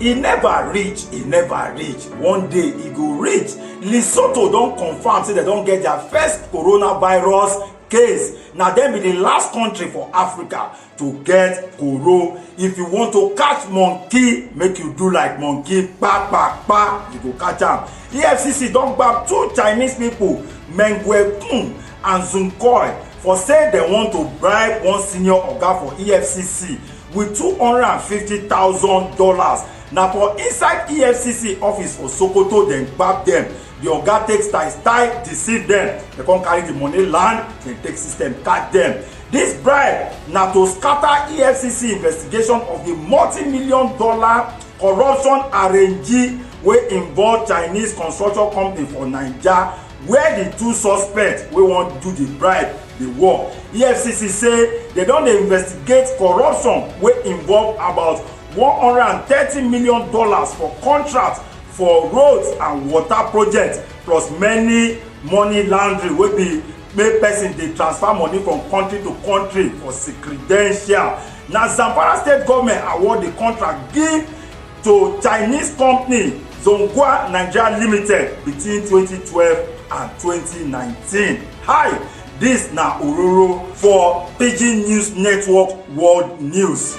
e never reach e never reach one day e go reach lesotho don confam say dem don get dia first coronavirus case na dem be di last kontri for africa to get koro if you want to catch monkey make you do like monkey kpa kpa kpa you go catch am efcc don gbab two chinese pipo meng guekun and Zunkoy for say dem want to bribe one senior oga for efcc with two hundred and fifty thousand dollars na for inside efcc office for sokoto dem gbab dem di oga take style style deceive dem dem come carry di money land dem take system catch dem dis bribe na to scatter efcc investigation of di multi-million dollar corruption arrangee wey involve chinese construction company for naija where di two suspects wey wan do di bribe dey work efcc say dem don dey investigate corruption wey involve about one hundred and thirty million dollars for contracts for roads and water projects plus many money laundering wey be make person dey transfer money from country to country for secredential na zamfara state goment award di contract give to Chinese company Zhongguo Nigeria Limited between 2012 and 2019. Hi, this na Ororo for Pidgin News Network World News.